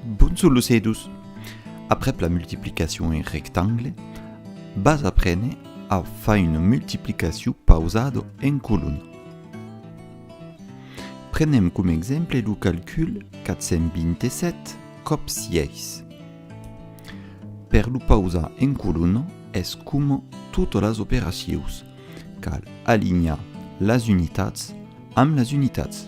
Bonjor los edus! Aprèp la multiplicacion en rectangle, vas aprene a far una multiplicacion pausada en colonna. Prenem coma exemple lo calcul 427 còp 6. Per lo pausar en colonna es coma totas las operacions, cal alinhar las unitats amb las unitats.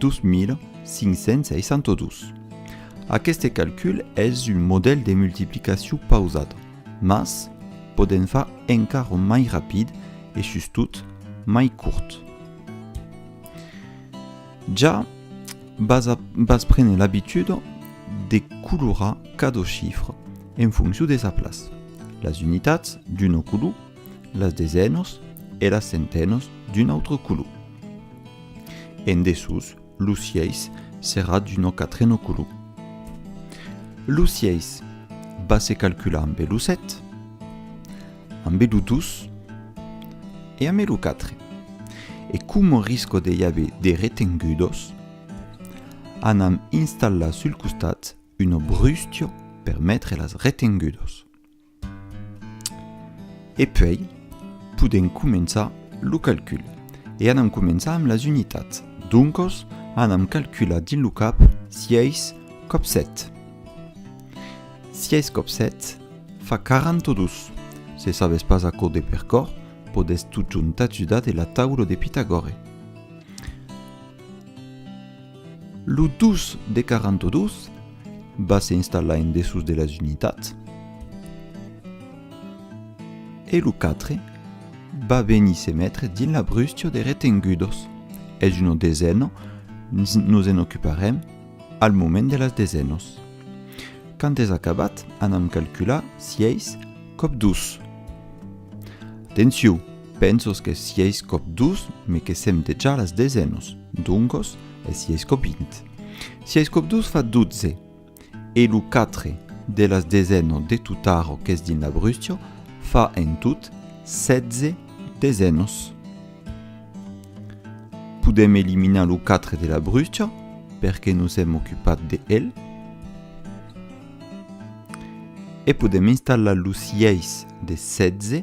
2562. Aqueste calcul es un modèl de multiplicacion pausada, mas podèm far encara mai rapid e sustot mai curt. Ja vas prene l'abitud de colorar cada chifra en foncion de sa plaça, las unitats d'una color, las desènos e las centènos d'un autre color. En dessús, lo sièis serrat d'un òc a trenoculu. Lo sièis va se calcular ambe lo sèt, ambe lo dus e ambe lo quatre. E coma risco de i aver de retengudos, anam installar sul costat una brustio per metre las retengudos. E puèi, podèm començar lo calcul. E anam començar amb las unitats. Doncos, anam calcular dins lo cap 6 còp 7. 6 còp 7 fa 42. Se sabes pas aquò de percòr, podètz totjorn t'ajudar de la taula de Pitagòre. Lo 2 de 42 va se installar en dessús de las unitats e lo 4 va venir se metre dins la brustia de retengudos. Es una desena, nos en ocuparem al moment de las desenos. Quand es acabat, anam calcular si eis còp 2. Atencion! Pensos que sièis cop dus, me que sèm dejà las desenos, doncos, e sièis cop vint. Sièis cop dus fa dotze, e lo quatre de las deseno de Tutaro qu'es dins l'Abrustio fa en tot setze desenos. Podèm eliminar lo quatre de l'Abrustio perque nos èm ocupat de el. E podèm installar lo sièis de setze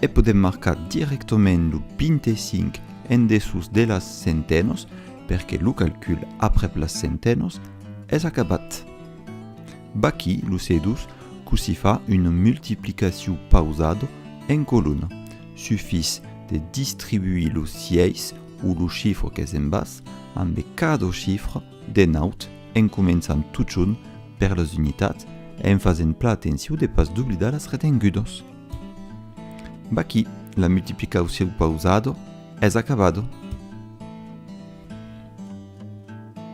E podèm marcar dirèctament lo 25 en dessús de las centenòs perque lo calcul aprèp las centenòs es acabat. Vaqui lo C2 cossí fa una multiplicaciu pausada en colona, sufís de distribuir lo 6 o lo chifre qu'es en bas ambe cada chifre De naut, en començant totjorn per las unitats e en fasent plan atenciu de pas doblidar las retengudos. Vaquí, la multiplicaucion pausado es acabado.